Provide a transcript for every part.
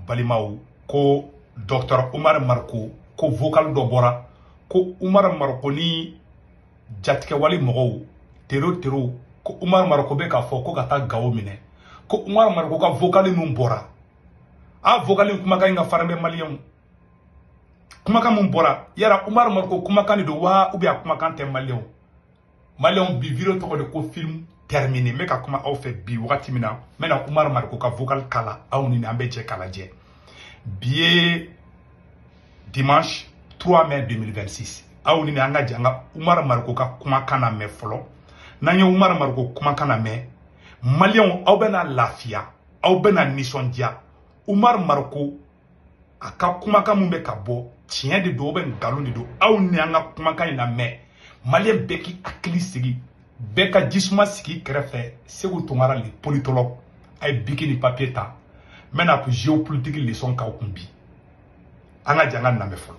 balimaw ko dɔktɔr umar mariko ko vokal dɔ bɔra ko umar mariko ni jatigɛwale mɔgɔw tero tero ko umar mariko bɛ k'a fɔ ko ka taa gawo minɛ ko umar mariko ka vokali min bɔra a vokali kumakan in ka farin mais maliyɛnw kumakan min bɔra yara umar mariko kumakan de don wa ou bien a kumakan tɛ maliyɛnw maliyɛnw bi video tɔgɔ de ko film terminé n bɛ ka kuma aw fɛ bi wagati min na n bɛna umaru mariko ka vocal k'a la aw ni an bɛ jɛ k'a lajɛ bi ye dimanche 3 mai 2026 aw ni an ka jɛ an ka umaru mariko ka kumakan lamɛn fɔlɔ n'an ye umaru mariko kumakan lamɛn maliyɛnw aw bɛna lafiya aw bɛna nisɔndiya umaru mariko a ka kumakan min bɛ ka bɔ tiɲɛ de don ou bien nkalon de don aw ni an ka kumakan in lamɛn maliyɛn bɛɛ k'i hakili sigi bɛɛ ka jisuma sigi kɛrɛfɛ seku tunkara le politologue a ye biki ni papiye ta n bɛna geopolitiki lesɔn k'aw kun bi an ka jɛ an k'a lamɛn fɔlɔ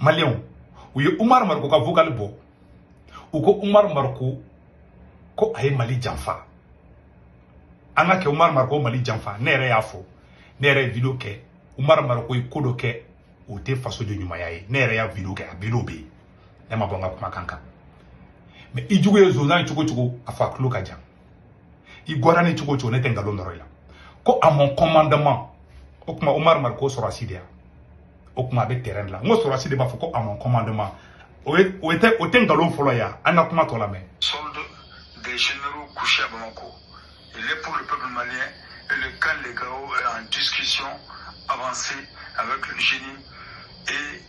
maliyɛnw u ye umaru mariko ka vokali bɔ u ko umaru mariko ko a ye mali janfa an k'a kɛ umaru mariko mali janfa ne yɛrɛ y'a fɔ ne yɛrɛ ye video kɛ umaru mariko ye ko dɔ kɛ o tɛ fasoden ɲumanya ye ne yɛrɛ y'a video kɛ a video bɛ yen ne ma bɔ n ka kumakan kan mais i jugu ye zonzan ye cogo cogo a fɔ a tulo ka jan i goyara n ye cogo cogo ne tɛ nkalon nɔrɔ i la ko à mon commandement o tuma umar mariko sɔrɔsi de yan o tuma a bɛ terrain la n ko sɔrɔsi de b'a fɔ ko à mon commandement o tɛ o tɛ nkalon fɔlɔ ye an ka kuma tɔ lamɛn solde des généraux couchés à Bamako il est pour le peuple malien et le camp de gao est en discussion avancée avec le jnim et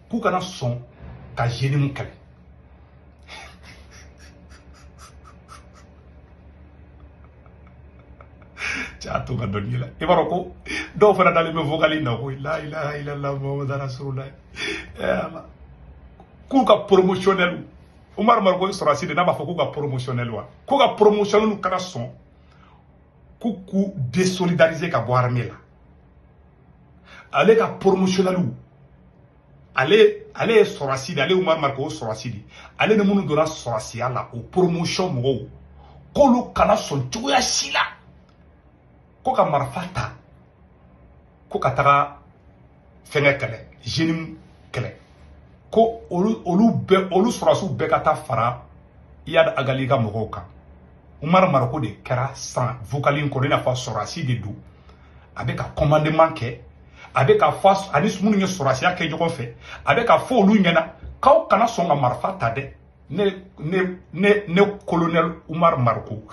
k'u kana sɔn ka jnim kɛlɛ c'a to ka dɔnni la i b'a dɔn ko dɔw fana dalen bɛ vokali na ko la ilaha illallah muhammadu rasulullah k'u ka promotionnel umaru mariko sɔrɔsi de n'a b'a fɔ k'u ka promotionnel wa k'u ka promotionnel kana sɔn k'u k'u désolidariser ka bɔ armée la ale ka promotionnelw ale ale ye sɔrɔsi de ale umar mariko o sɔrɔsi de ale ni minnu donna sɔrɔsiya la o poromosiyɔn mɔgɔw k'olu kana sɔn cogoya si la ko ka marifa ta ko ka taga fɛngɛ kɛlɛ jnim kɛlɛ ko olu olu bɛɛ olu sɔrɔsiw bɛɛ ka taa fara iyad ag ghali ka mɔgɔw kan umar mariko de kɛra san vokali in kɔnɔ i n'a fɔ sɔrɔsi de don a bɛ ka commandement kɛ a bɛ ka fɔ ani minnu ye sɔrɔsiya kɛ ɲɔgɔn fɛ a bɛ ka fɔ olu ɲɛna k'aw kana sɔn ka marifa ta dɛ ne ne ne ne colonel Umar Mariko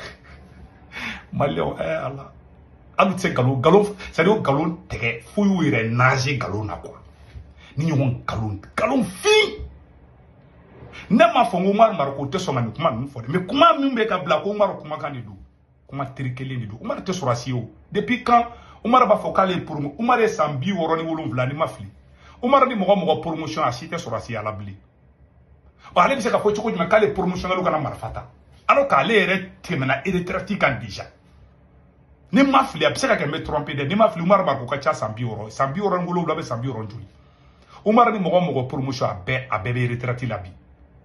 maliyɛnw ɛɛ eh, ala an bɛ se nkalon nkalon c'est à dire nkalon tigɛ fo y'u yɛrɛ nage nkalon na quoi ni ɲɔgɔn nkalon nkalon fin ne m'a fɔ n ko Umar Mariko tɛ sɔn ka nin kuma ninnu fɔ dɛ mais kuma min bɛ ka bila ko Umar kumakan de don kuma triquélen de don umaru tɛ sɔrɔsi ye o depuis quand umaru b'a fɔ k'ale ye promo umaru ye san bi wɔɔrɔ ni wolonwula ni n ma fili umaru ni mɔgɔ mɔgɔ promotion a si tɛ sɔrɔsiya la bilen ɔ ale bɛ se ka fɔ cogo jumɛn k'ale promotionnaire kana marifa ta alors k'ale yɛrɛ tɛmɛna retraite kan déjà ni n ma fili a bɛ se ka kɛ n bɛ trompé dɛ ni n ma fili umaru mariko ka ca san bi wɔɔrɔ san bi wɔɔrɔ ni wolonwula bɛ san bi wɔɔrɔ joli umaru ni mɔgɔ mɔgɔ promotion a bɛɛ a bɛɛ bɛ retraite la bi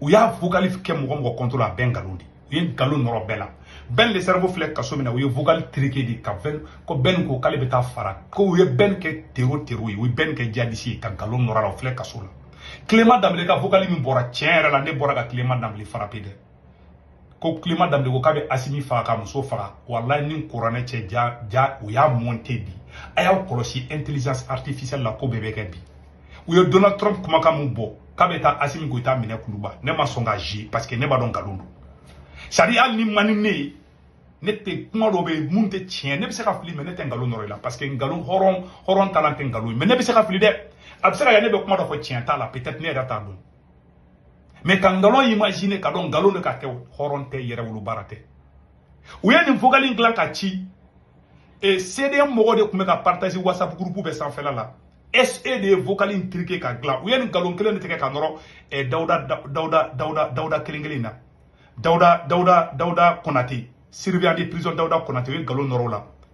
u y'a vocal kɛ mɔgɔ mɔgɔ contre la a bɛɛ nkalon de u ye nkalon nɔrɔ bɛɛ la Ben le cerveau filɛ kaso min na u ye vocal triqué de ka bɛn ko Ben ko k'ale bɛ taa fara ko u ye Ben kɛ tero tero ye u ye Ben kɛ djihadiste ye ka nkalon nɔrɔ a la o filɛ kaso la Clément Dembélé ka vocal min bɔra tiɲɛ yɛrɛ la ne bɔra ka Clément Dembélé frappé dɛ ko Clément Dembélé ko k'a bɛ asimi faga k'a muso faga walayi ni kuranɛ cɛ ja ja u y'a monté bi a y'aw kɔlɔsi intelligence artificielle la ko bɛɛ bɛ kɛ bi u ye donald trump kumakan min bɔ k'a bɛ taa asimi goyita minɛ kuluba ne ma sɔn ka ze parce que ne b'a dɔn nkalon don c'est à dire hali n'i man di ne ye ne tɛ kuma dɔ bɛ yen min tɛ tiɲɛ ne bɛ se ka fili mais ne tɛ nkalon nɔrɔ i la parce que nkalon hɔrɔn hɔrɔn talan tɛ nkalon ye mais ne bɛ se ka fili dɛ a bɛ se ka kɛ ne bɛ kuma dɔ fɔ tiɲɛ t'a la peut-être ne yɛrɛ t'a dɔn mais ka nkalon imaginé k'a dɔn nkalon de k'a kɛ hɔrɔn tɛ yɛrɛwolo baara tɛ u ye nin vocal in dilan ka ci e cdm mɔgɔw de tun bɛ ka partage whatsapp groupe bɛɛ sanfɛla la SE de ye vocal in triqué ka dilan u ye nin nkalon kelen de tigɛ ka nɔrɔ eh, dawuda dawuda dawuda dawuda kelen kelen na dawuda dawuda dawuda konate surveillant de prison dawuda konate u ye nkalon nɔrɔ o la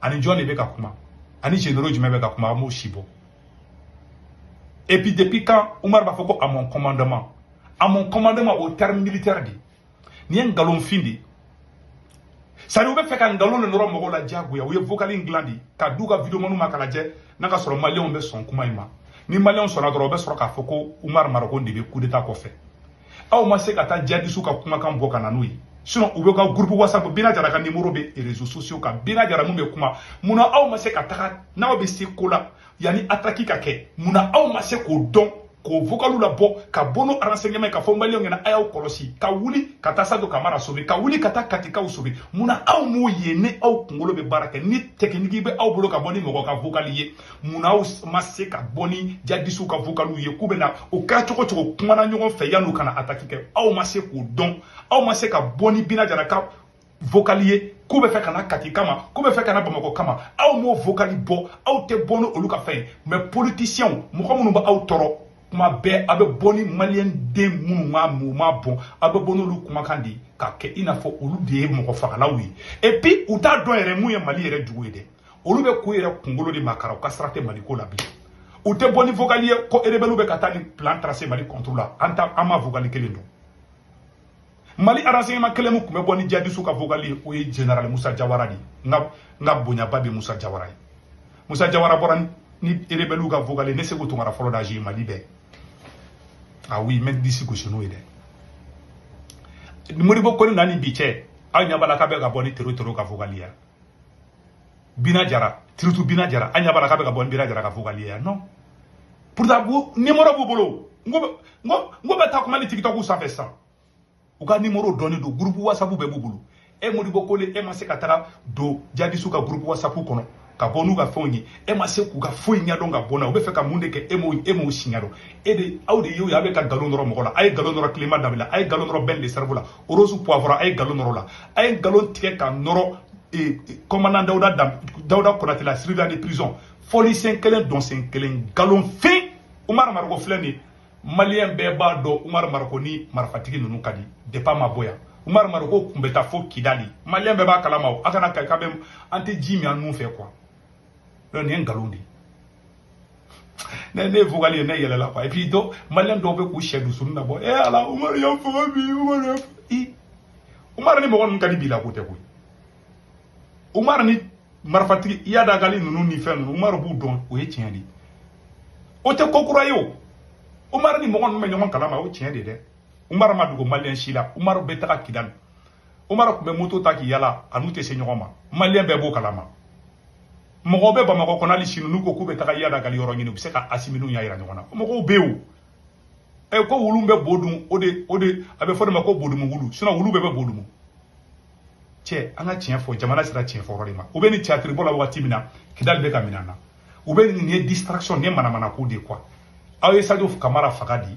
ani jɔn de bɛ ka kuma ani généraux jumɛn bɛ ka kuma a m'o si bɔ et puis depuis quand Umar b'a fɔ ko à mon commandement à mon commandement au terme militaire de nin ye nkalonfin de c'est à dire u bɛ fɛ ka nkalon de nɔrɔ mɔgɔw la diyagoya u ye vocal in dilan de ka di u ka videomaniw ma k'a lajɛ n'a ka sɔrɔ maliyɛnw bɛ sɔn kuma in ma ni maliyɛnw sɔnna dɔrɔn u bɛ sɔrɔ k'a fɔ ko Umar Mariko de bɛ coup d'état kɔfɛ aw ma se ka taa djihadistew ka kumakan bɔ ka na n'o ye sinon u bɛɛ ka groupe whatsapp bina jara ka numéro bɛ réseaux sociaux kan bina jara min bɛ kuma munna aw ma se ka taga n'aw bɛ se ko la yanni attaque ka kɛ munna aw ma se k'o dɔn k'o vocalw labɔ ka bɔ n'o renseignement ka fɔ maliyɛnw ɲɛna a y'aw kɔlɔsi ka wuli ka taa sadio kamara sauver ka wuli ka taa katikaw sauver munna aw m'o ye ni aw kunkolo bɛ baara kɛ ni technique bɛ aw bolo ka bɔ ni mɔgɔ ka vocal ye munna aw ma se ka bɔ ni jadisiw ka vokaliw ye k'u bɛna o kɛra cogo cogo kumana ɲɔgɔn fɛ yan'u ka na ataki kɛ aw ma se k'o dɔn aw ma se ka bɔ ni bina jara ka vokali ye k'u bɛ fɛ ka na kati kama k'u bɛ fɛ ka na bamakɔ kama aw m'o vokali bɔ aw tɛ bɔ ni olu ka fɛn ye mɛ politisiyɛnw mɔgɔ minnu bɛ aw tɔɔrɔ kuma bɛɛ a bɛ bɔ ni maliyɛn den minnu ma bɔn a bɛ bɔ n'olu kumakan de ye k'a kɛ i n'a fɔ olu de ye mɔgɔ fagalaw ye epi u t'a dɔn yɛrɛ mun ye mali yɛrɛ jugu ye dɛ olu bɛ k'u yɛrɛ kunkolo de makara u ka sira tɛ mali ko la bilen u tɛ bɔ ni vocal ye ko erebɛliw bɛ ka taa ni plan tracé mali contre la an ta an ma vocal kelen dɔn mali renseignement kelen min tun bɛ bɔ ni jadisiw ka vocal ye o ye general musa jawara de ye n ka n ka bonyaba bɛ musa jawara ye musa jawara bɔra ni erebɛliw ka vocal ye ne seku tunkara fɔlɔ de y'a ye mali bɛɛ ah oui n bɛ n disi gosi n'o ye dɛ modibo kone na ni bi cɛ aw ɲɛ b'a la k'a bɛ ka bɔ ni tero tero ka vocal ye bina jara tiritu bina jara an ɲɛ b'a la k'a bɛ ka bɔ ni bina jara ka vocal ye non pourtant u nimoro b'u bolo n ko n k'u bɛ taa kuma ni tikitɔku sanfɛ sisan u ka nimoro dɔnnen don gurupu wasapu bɛɛ b'u bolo e modibo kone e ma se ka taga don jadisiw ka gurupu wasapu kɔnɔ ka bɔ n'u ka fɛnw ye e ma se k'u ka foyi ɲɛdɔn ka bɔ na u bɛ fɛ ka mun de kɛ e m'o e m'o si ɲɛdɔn e de aw de y'o ye aw bɛ ka nkalon nɔrɔ mɔgɔ la a ye nkalon nɔrɔ clément dembélé la a ye nkalon nɔrɔ ben le cerveau la rose poivron a ye nkalon nɔrɔ a la a ye nkalon tigɛ k'a nɔrɔ kɔmandan dawuda konate la surveillant de prison fɔli sen kelen dɔn sen kelen nkalon fin umar mariko filɛ nin maliyɛn bɛɛ b'a dɔn umar mariko ni marifatigi ninnu ka di depuis a ma bɔ yan umar mariko kun bɛ taa fo kidali maliyɛn bɛɛ b'a kalama o a kana k'a bɛ an tɛ ji min an nun fɛ quoi yɔrɔ nin ye nkalon de ye ne ye vocal ye ne yɛlɛla quoi et puis dɔ maliyɛn dɔw bɛ k'u sɛ dusuni na bɔ e ala umaru y'an faga bi umaru y'an i umaru ni mɔgɔ ninnu ka di bi la ko tɛ koyi umaru ni marifatigi iyad ag ghali ninnu ni fɛn ninnu umaru b'u dɔn o ye tiɲɛ de ye o tɛ ko kura ye o umaru ni mɔgɔ ninnu bɛ ɲɔgɔn kalama o tiɲɛ de ye dɛ umaru ma dogo maliyɛn si la umaru bɛ taga kidali umaru tun bɛ moto ta k'i yala a n'u tɛ se ɲɔgɔn ma maliyɛn bɛɛ b'o kalama mɔgɔw bɛ bamakɔ kɔnɔ hali sini n'u ko k'u bɛ taga iyad ag ghali yɔrɔ ɲini u bɛ se ka asimi ni iyad yira ɲɔgɔn na mɔgɔw bɛ yen o ɛ ko wulu bɛ bo dun o de o de a bɛ fɔ de ma ko bodumu wulu sinon wulu bɛɛ bɛ bo dumu cɛ an ka tiɲɛ fɔ jamana sera tiɲɛ fɔ yɔrɔ de ma u bɛ nin tiyatiri bɔ la wagati min na kidali bɛ ka minɛ an na u bɛ nin ye distraction nin ye manamana ko de ye quoi aw ye sadio kamara faga di